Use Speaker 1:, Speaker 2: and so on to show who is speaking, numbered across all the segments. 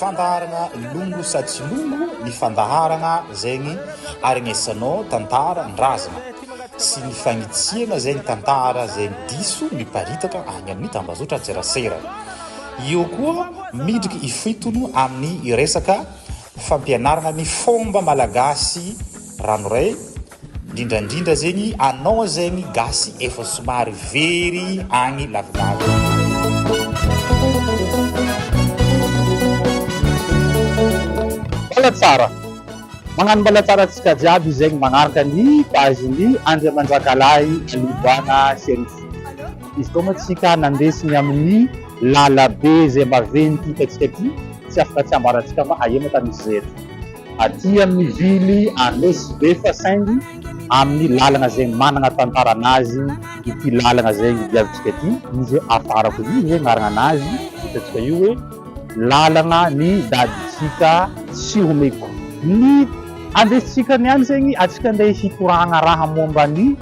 Speaker 1: Fandaharana longo sa tsy longo ny fandaharana zegny aregnesanao tantara ndrazana sy ny fagnitsiana zegny tantara zegny diso miparitaka agny amin'ny tambazotra antserasera eo koa midriky ifitono amin'ny resaka fampianarana ny fomba malagasy ranoray Ndrindrandrindra zegny anao zegny gasy efa somary very agny lavidavitra.
Speaker 2: Mbala tsara! Magnano mbala tsara antsika jiaby izegny magnaraka ny page ny Andriamanjakalahy Livoana Sheriff. Izy koa moa tsika nandesy ny amin'ny lala be zay maventy hitantsika ty tsy afaka tsy ambarantsika fa aia moa ka misy zay eto. Aty amin'ny ville à Mezibefa saingy amin'ny lalana izay manana tantarana azy ity lalana izay diavintsika ity, izy hoe afarako io izay anaranana azy, hitantsika io hoe lalana ny dadintsika sy homeko ny handesintsika ny any saingy antsika andeha hitorahana raha momba ny.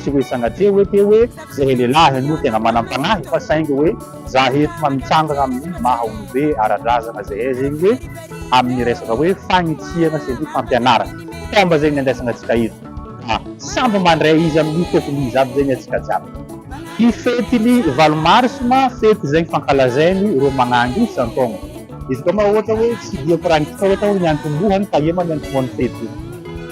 Speaker 2: Tsy hoe sanatria hoe te hoe zahay lehilahy no tena manam-panahy fa saingy hoe za eto fa mitsangana amin'ny maha olobe ara-drazana zahay zegny hoe amin'ny resaka hoe fagnitsiana sy ny fampianarana. Taomba zegny ny andraisana antsika eto ka samby mandray izy amin'ny fefiny izy aby zegny antsika jiaby. Ny fety ny valo mars ma fety izay fankalazainy ireo magnangy isan-taogna. Izy koa ma ohatra hoe tsy dia koragnintsika ohatra hoe ny antombohany fa ema ny antombohan'ny fety.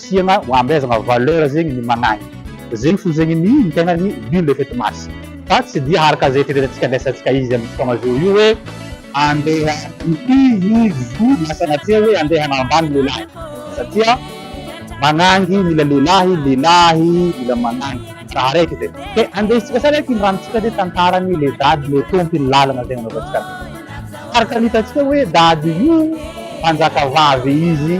Speaker 2: Siana hoambezagna valeur zegny ny managny zegny fô zegny ny ny tegnany nul le fait masse fa tsy dia araka ze fieritreretantsika andraisantsika izy amizao fotoagna zao io hoe andeha hifidy izy io na sanatria hoe andeha hanambany lehilahy satria manangy mila lehilahy lehilahy mila manangy raha araiky zay ke andesintsika sa raiky ny ranontsika de tantarany le dady le tompiny lalagna zay nanaovantsika azy araka ny hitantsika hoe dady io mpanjakavavy izy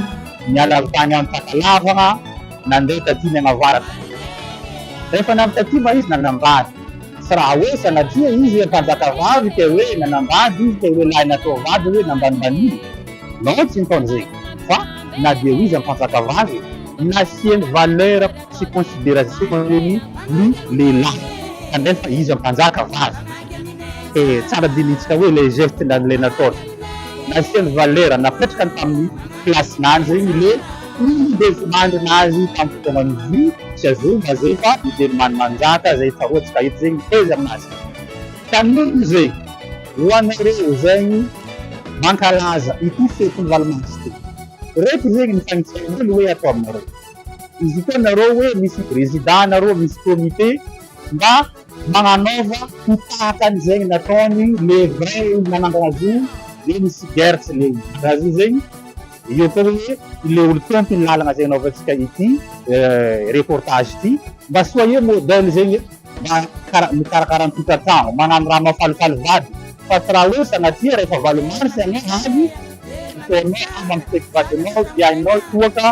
Speaker 2: Niala avy tany Antakalavana nandeha taty Mianavaratra. Rehefa navy taty mba izy nanambady. Tsy raha hoe sanatria izy hoe mpanjakavavy te hoe nanambady izy te hoe lahy natao vady hoe nambanimbaniana. Non tsy nitaon'izay. Fa na dia ho iza mpanjakavavy e. Nasiany valeur. sy considération-ny ny lehilahy kanefa iza mpanjaka vavy e! tsara dinihitsika hoe le geste na le nataony nasiany valeur napetrkany tamin'ny place nany ny le izy de volandrina azy tamin'ny fotoanan'ny vy sy azonga zay fa mijery many manjaka zay tsaroa tsy fahita zay miteza aminazy ka noho zay ho anareo zay ny mankalaza ity fetin'ny valo mars ty reto zegny ny fagnintsananay no hoe atao aminareo Izy io koa nareo hoe misy prezida nareo misy comité mba magnanaova ho tahaka an'izegny nataony le vrai olo nanangana azy io le misy guerre tsy leo raha zay zegny eo koa hoe le olo tompo ny lalagna zay anaovantsika ity reportage ity mba soyez modèle zegny e. mikarakara ny tokantrano, manano raha mafalifaly vady fa tsy raha osa na tsia rehefa valo mars ianao avy mifohamehy amy mifety vadinao dia hainao toa ka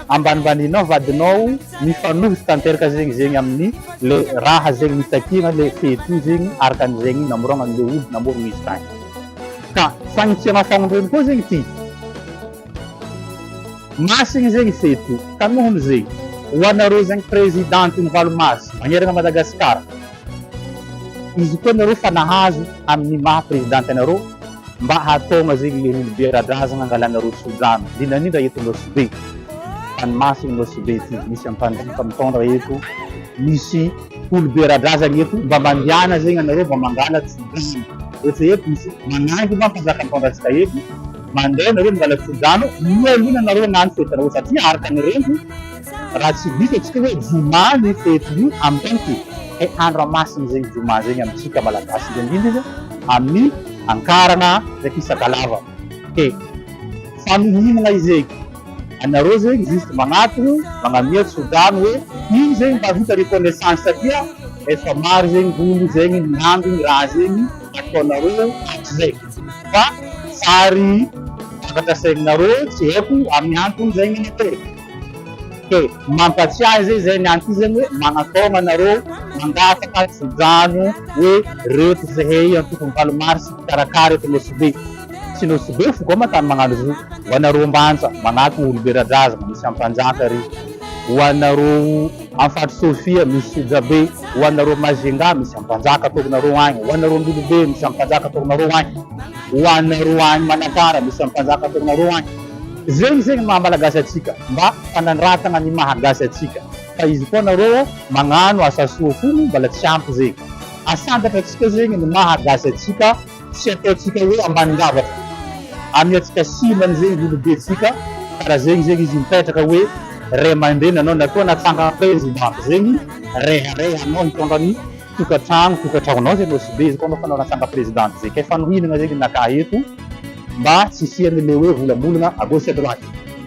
Speaker 2: ambanimbaninao vadinao mifanohitra tanteraka zegny zegny aminy le raha zegny nitakiana le fety io zegny araka ny zegny namoragna anle olo namorogna izy tagny ka sagnitsia nafagnondreny koa zegny ty Masina zegny fety tanohiny zegny ho anareo zegny president ny valo mars magnerana Madagascar izy koa nareo fa nahazo aminy maha president anareo mba hataogna zegny le olobe aradrazagna angalanareo sodrano indrindrandrindra eto Nosy-Be tany masina Nosy-Be ty misy ampanjifa mitondra eto misy olobe aradrazagna eto mba mandehana zegny anareo mba mangala tsodrano ohatry eto misy manangy mba mpanjaka mitondra atsika eto Mandeha nareo mangala tsodrano mialoha ny anareo hagnano fety raozy aty araka ny reniko raha tsy diso atsika hoe joma ny fety io amintsika e andro amasina zegny joma zegny amintsika malagasy indrindra izy amin'ny ankarana ndraiky ny sakalava ke fa mihimagna izegny anareo zegny juste magnatogno magnamia tsodrano hoe ino zegny mba vita reconnaissance satria efa maro zegny olo zegny miandry ny raha zegny ataonareo zay fa sary vokatra sainareo tsy haiko amin'ny antony zay minute e! Dia mampatsiahy zay zay ny antony zany hoe manataona nareo mangataka tso-drano hoe reto zahay antoko valo mars mpikarakara eto Nosy Be tsy Nosy Be foko ama tany magnano zo ho anareo ambanja manatona olom-be ra-drazagna misy ampanjaka ry ho anareo Afaty Sofia misy Sijabe ho anareo Majunga misy any Mpanjaka ataokinareo any ho anareo Ndolobe misy any Mpanjaka ataokinareo any ho anareo any Manakara misy any Mpanjaka ataokinareo any zegny zegny maha Malagasy atsika mba fanandratagna ny maha Gasy atsika fa izy koa nareo magnano asa soa fony mbala tsy ampy zegny asandatra atsika zegny ny maha Gasy atsika Tsy ataontsika hoe ambany lavaka aminy atsika simba ny zegny volo be tsika kara zegny zegny izy mipetraka hoe ray amandreny anao na koa natsangan president zegny rehareha anao hitondra ny tokatrano tokatraonao zay anao simbe izy koa anao fa anao natsanga president zay kay fanohinana zegny naka eto mba tsy hisiany le hoe volambolana à gauche à droite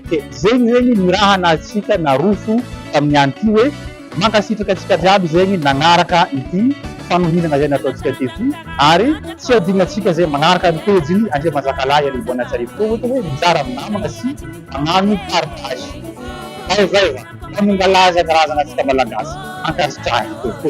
Speaker 2: de zegny zegny ny raha nahatsika naroso taminy any ty hoe Mankasitraka antsika jiaby zegny nagnaraka ity fanohinana zay nataontsika tety ary tsy hadinonantsika zay magnaraka ny pejy ny Andriamanjakalahy Alibona Tsarivokao ohatra hoe mizara amin'ny namana sy magnano partage. Zay zay zany manongalaza ny razana tsika malagasy ankasitrahiny tompo.